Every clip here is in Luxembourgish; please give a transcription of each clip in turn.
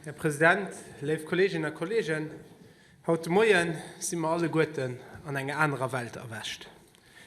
Här President, léif Kolleeginnen a Kolleegen, haut de Moien si mer alleguerten an enger anerer Welt erwächt.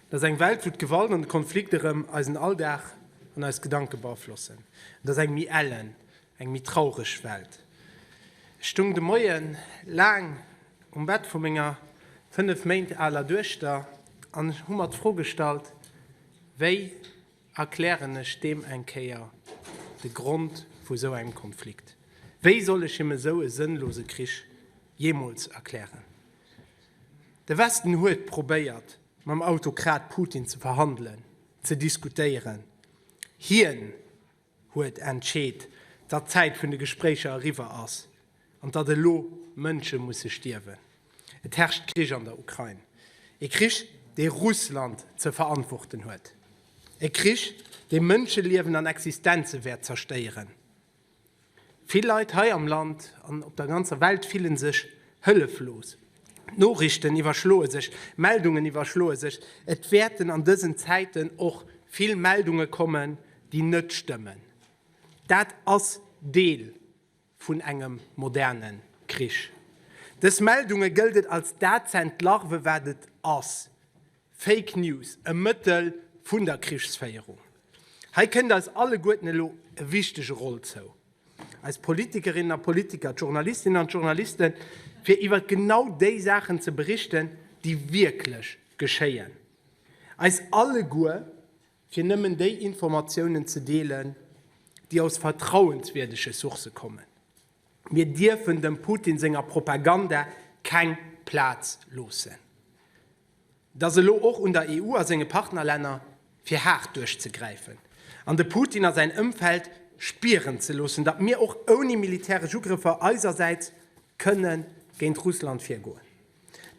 Et ass eng Welt, wou d'Gewalt an de Konflikt erëm eisen Alldag an eis Gedanke beaflossen. Et ass eng méi ellen, eng méi traureg Welt. Ech stoung de Moien laang um Bett vu menger fënnef Méint aler Duechter an hu mer d'Fro gestallt, wéi Erklären ech deem eng Kéier de Grond vu sou engem Konflikt? Wéi soll ech him esou e sënnlose Krich jeemools erklären? De Westen huet probéiert, mam Autokrat Putin ze verhandelen, ze diskutéieren. Hien huet entscheet, datt d'Zäit vun de Gespréicher eriwwer ass. An datt elo Mënsche musse stierwen. Et herrscht Krich an der Ukrain. E Krich, dee Russland ze verantworten huet. E Krich, dee Mënscheliewen an Existenze wäert zerstéieren. Vill Leit hei am Land an op der ganzer Welt fille sech hëlleflos. D'Noriichten iwwerschloe sech, d'Meldungen iwwerschloe sech. Et wäerten an dësen Zäiten och vill Meldunge kommen, déi net stëmmen. Dat ass Deel vun engem moderne Krich. Dës Meldunge gëllt et als dat z'entlarve wat et ass, Fake News, e Mëttel vun der Krichsféierung. Hei kënnt eis alleguerten elo e wichtege Roll zou, eis Politikerinnen a Politiker, d'Journalistinnen an d'Journaliste fir iwwert genau déi Saachen ze berichten, déi wierklech geschéien. Eis alleguer fir nëmmen déi Informatiounen ze deelen, déi aus vertrauenswierdege Sourcë kommen. Mir dierfen dem Putin senger Propaganda keng Plaz loossen. Et ass elo och un der EU a senge Partnerlänner, fir haart duerchzegräifen an de Putin a säin Ëmfeld spieren ze loossen, datt mir och ouni militäresch Ugrëffer eisersäits kënne géint Russland virgoen.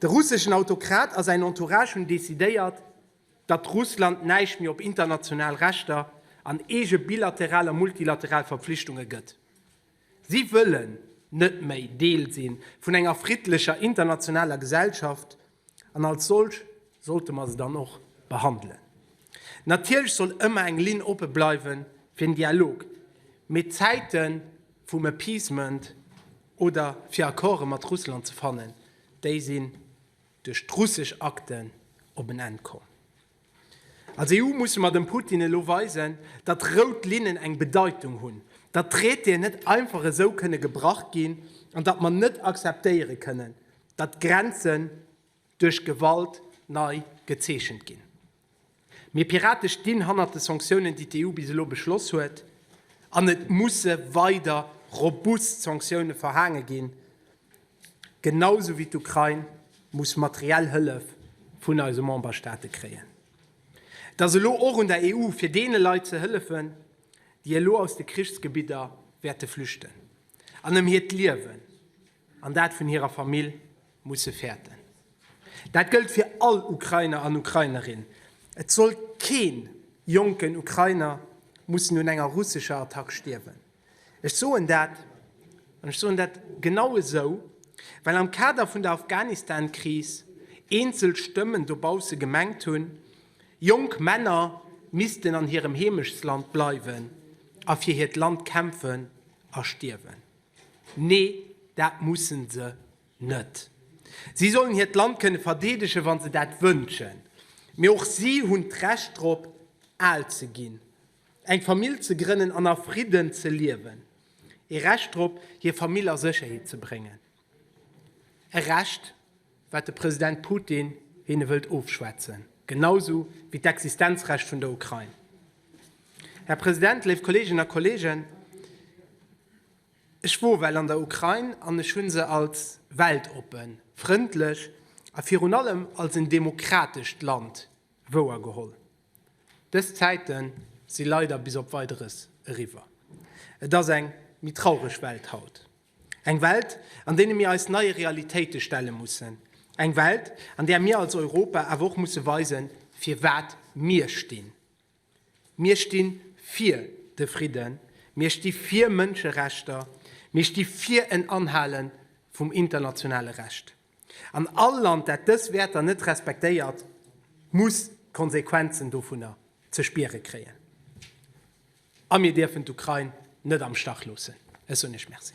De russeschen Autokrat a säin Entourage hunn decidéiert, datt Russland näischt méi op international Rechter an eege bilateral a multilateral Verpflichtunge gëtt. Si wëllen net méi Deel si vun enger friddlecher internationaler Gesellschaft, an als solch sollte mer se dann och behandelen. Natierlech soll ëmmer eng Linn oppe bleiwe fir en Dialog, mee d'Zäite vum Appeasement oder fir Accorde mat Russland ze fannen, déi sinn. duerch d'russesch Akten op en Enn komm. Als EU musse mer dem Putin elo weisen, datt rout Linnen eng Bedeitung hunn, datt Traitéen net einfach esou kënne gebrach ginn an datt mer net akzeptéiere kënnen, datt Grenzen duerch Gewalt nei gezeechent ginn. Mir Pirate stinn hannert de Sanktiounen, déi d'EU bis elo beschloss huet, an et musse weider robust Sanktioune verhaange ginn, genausou wéi d'Ukrain muss materiell Hëllef vun eise Memberstaate kréien. Et ass elo och un der EU, fir deene Leit ze hëllefen, déi elo aus de Krichsgebidder wäerte flüchten an ëm hiert Liewen an dat vun hirer Famill Musse fäerten. Dat gëllt fir all Ukrainer an Ukrainerin. Et soll keen jonken Ukrainer mussen un enger russescher Attack stierwen. Ech soen dat, an ech soen dat genau esou, well am Kader vun der Afghanistan-Kris eenzel Stëmmen dobausse gemengt hunn, jonk Männer missten an hirem Heemechtsland bleiwen a fir hiert Land kämpfen a stierwen. Nee, dat mussen se net. Si sollen hiert Land kënne verdeedegen, wa se dat wënschen. Mee och si hunn d'Recht drop, al ze ginn, eng Famill ze grënnen an a Fridden ze liewen. E Recht drop, hir Famill a Sécherheet ze bréngen. E Recht, wat de President Putin hinne wëllt ofschwätzen, genausou wéi d'Existenzrecht vun der Ukrain. Här President, léif Kolleeginnen a Kolleegen, ech wor well an der Ukrain an ech hu se als weltoppen, frëndlech a virun allem als en demokratescht Land wouergeholl. Dës Zäite si leider bis op Weideres eriwwer. Et ass eng méi traureg Welt haut. Eng Welt, an deene mir eis neie Realitéite stelle mussen. Eng Welt, an där mir als Europa awer och musse weisen, fir wat mir stinn. Mir sti fir de Fridden, mir sti fir Mënscherechter, mir sti fir en Anhale vum internationale Recht. An all Land, dat dës Wäerter net respektéiert, muss d'Konsequenzen dovunner ze spiere kréien. A mir dierfen d'Ukrain net am Stach loossen. Ech soen Iech Merci.